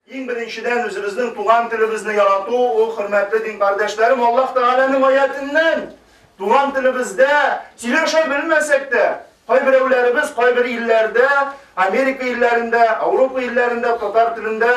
Иң беренчедән, үзебезнең туган телебезне ярату ул, хөрмәтле дин кардәшләрем, Аллаһ Тәгаләнең аятеннән. Туган телебездә сөйләшә белмәсәк тә, кайберәүләребез кайбер илләрдә, Америка илләрендә, Ауропа илләрендә татар телендә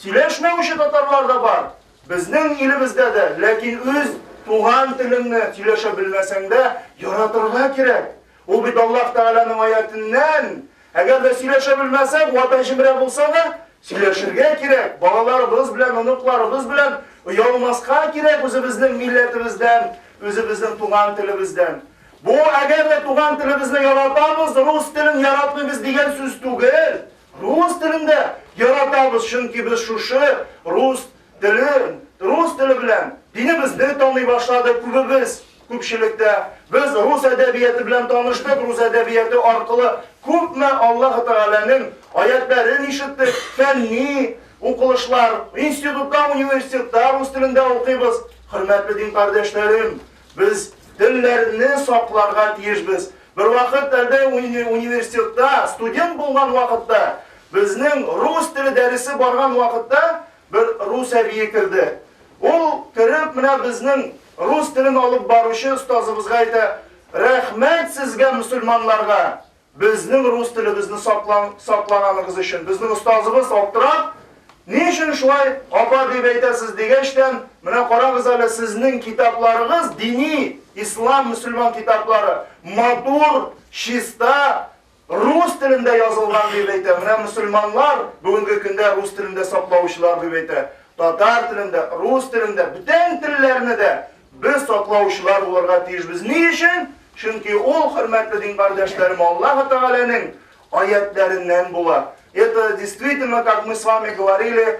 сөйләшмәүче татарлар да бар. Безнең илебездә дә, ләкин үз туган телеңне сөйләшә белмәсәң дә, яратырга кирәк. Ул бит Аллаһ Тәгаләнең аятеннән, Әгәр дә сөйләшә белмәсәк, ватан җимерә булса да, сөйләшергә кирәк, балаларыбыз белән, оныкларыбыз белән оялмаска кирәк үзебезнең милләтебездән, үзебезнең туган телебездән. Бу, әгәр дә туган телебезне яратабыз, рус телен яратмыйбыз дигән сүз түгел. Рус телен дә яратабыз, чөнки без шушы рус телен, рус теле белән динебезне таный башладык күбебез. Күпчелектә, без рус әдәбияты белән таныштык, рус әдәбияты аркылы күпме Аллаһы Тәгаләнең аятьләрен ишеттек, фәнни укылышлар, институтта, университетта рус телендә укыйбыз. Хөрмәтле дин кардәшләрем, без телләрне сакларга тиешбез. Бервакыт әле университетта студент булган вакытта, безнең рус теле дәресе барган вакытта, Бер рус әбие керде. Ул, кереп, менә безнең рус телен алып баручы остазыбызга әйтә, Рәхмәт сезгә, мөселманнарга, безнең рус телебезне саклан, саклаганыгыз өчен. Безнең остазыбыз, аптырап, Ни өчен шулай, апа, дип әйтәсез, дигәчтән, Менә карагыз әле, сезнең китапларыгыз, дини, ислам, мөселман китаплары, матур, чиста, Рус телендә язылган дип әйтә. Менә мөселманнар бүгенге көндә рус телендә саклаучылар дип әйтә. Татар телендә, рус телендә, бүтән телләрне дә без саклаучылар булырга тиешбез. Ни өчен? Чөнки ул, хөрмәтле дин кардәшләрем, Аллаһ Тәгаләнең аятләреннән була. Это действительно, как мы с вами говорили,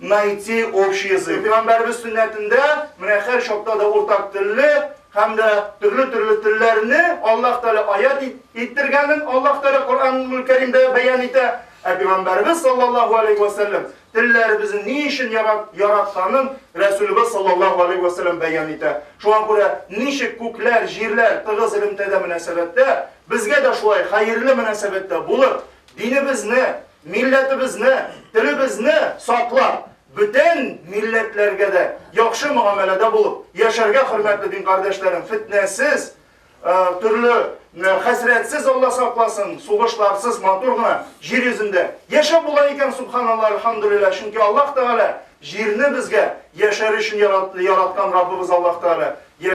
Найти общий язык. Пәйгамбәрбез сөннәтендә менә хәр чакта да уртак телле һәм дә төрле-төрле телләрне Аллаһ Тәгалә аят иттергәнен Аллаһ Тәгалә Коръәнул Кәримдә бәян итә. Ә Пәйгамбәрбез саллаллаһу алейһи ва сәлләм телләребезне ни өчен яратканын Рәсүлебез саллаллаһу алейһи ва сәлләм бәян итә. Шуңа күрә ничек күкләр, җирләр тыгыз элемтәдә мөнәсәбәттә, безгә дә шулай хәерле мөнәсәбәттә булып, динебезне, Милләтебезне, телебезне саклап, бөтен милләтләргә дә яхшы мөгамәләдә булып, яшәргә хөрмәтле дин кардәшләрем, фитнәсез, төрле хәсрәтсез Алла сакласын, сугышларсыз матур гына җир йөзендә яшәп була икән, субханаллаһ, альхамдулиллаһ, чөнки Аллаһ Тәгалә җирне безгә яшәр өчен яраткан Раббыбыз Аллаһ Тәгалә